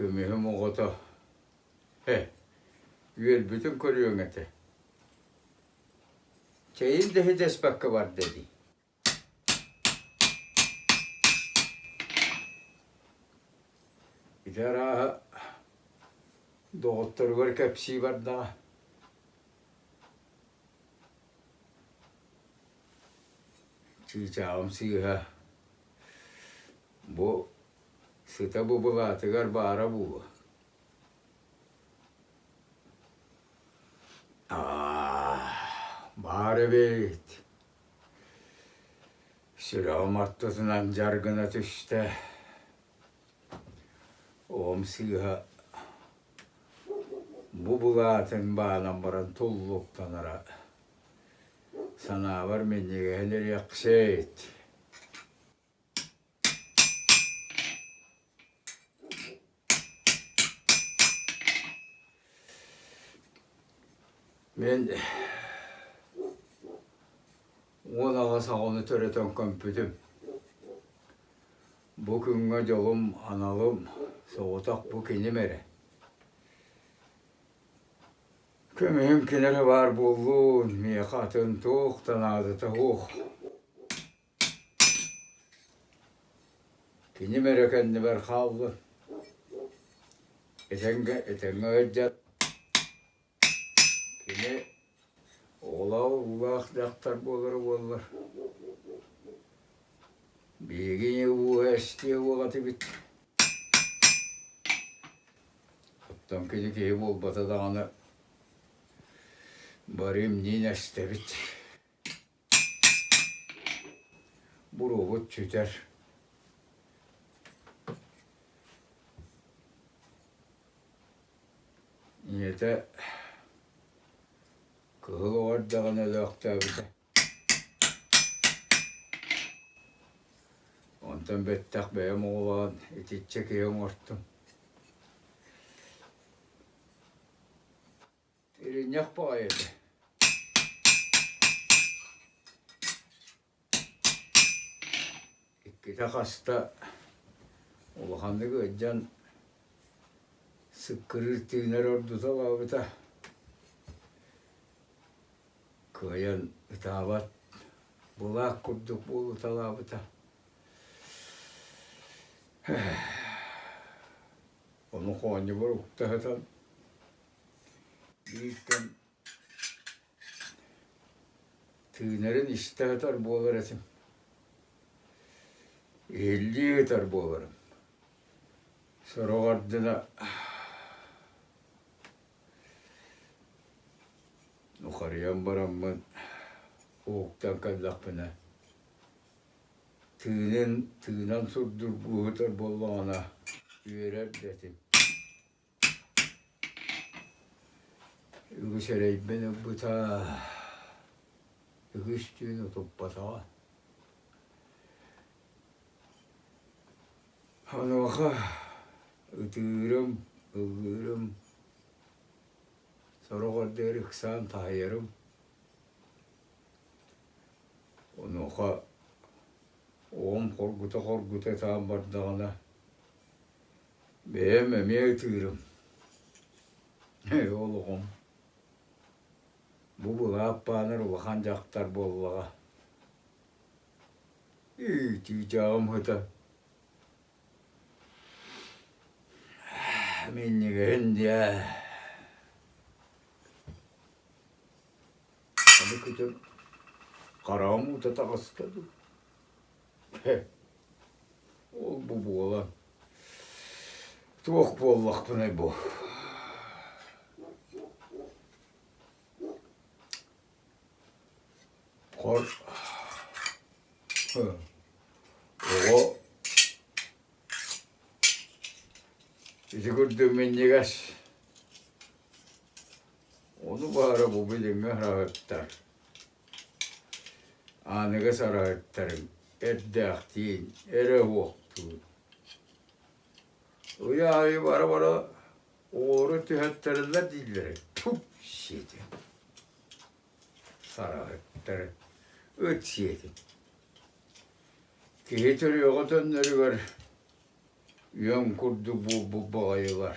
Көмүһүм оҕото, э, үөлбүтүн көрүөҥ этэ. Чэйин да идэспэккэ барда дии. Ити арааһа доҕотторугар кэпсии бардаҕа. Чыычаалым сыыһа бу сыта бу былаатыгар баара буолуо баар эбээт сүрэҕим ортотунан дьар гына түстэ оҕом сыыһа Бу былаатын баанан баран туллуктанара санаабар минньигэһин ириэхсит Мин уон аҕа саҕаны төрөтөн көмпүтүм. Бу күҥҥэ дьолум, аналым, соҕотох бу киним эрэ. Көмүһүм ким эрэ баар буоллун, миэхэ атын туох да наадата суох. Киним эрэ кэннибэр хааллын. Этэҥҥэ этэҥҥэ сылдьан Кини оҕолоох уулаах дьахтар буолара буоллар, биһигини ууһа эстиэ уол этибит. Оттон кини киһи буолбата даҕаны, бары имниин эстэбит Буруобут сүтэр ийэтэ кыһыл оҕо эрдэҕинэ өлөөхтөөбүтэ онтон бэттэх бэйэм оҕолоон итиччэ киһи оҥостум Иринньэх баҕайы этэ иккитэ-хаста улаханнык ыалдьан сыккырыыр тыынар ордуталаабыта кыайан ытаабат былаак курдук буолуталаабыта ону хоонньубар укта сытан Биирдэ тыынарын истэ сытар буолар этим, иһиллии сытар буоларым. Сороҕор гына ухарыйан бараммын уһуктан кэллэхпинэ тыынын тыынан сурдургуу сытар буоллаҕына үөрэр да этим. Үгүс эрэйбин ылбыта, үгүс түүн утуппатаҕа. Онуоха ытыырым, ыллыырым, сорох ордугар ыксаан таайарым. Онуоха оҕом хоргута-хоргута саан бардаҕына Бэйэм эмиэ ытыырым ээ олоҕум бу былаап баанар улахан дьахтар буоллаҕа иитии дьаҕым ыһыта минньигэһин диэ аны күтүр хараҕым уута таҕыста дуу Ол бу буолан туох буоллахпыный бу? Хор оҕо ити курдук минньигэс ону баара бу билиҥҥи хараһыттар Аныгыс арыһыттарым эрдээхтиин эрэ уохтуур. Уйа аайы бара-бара уору түһэттэрэллэр дииллэрэ тфүк сиэтэ. Сарыһыттар ыт сиэтин. Киһи төрүөҕэ төннөрүгэр үөн курдук буолбут баҕайылар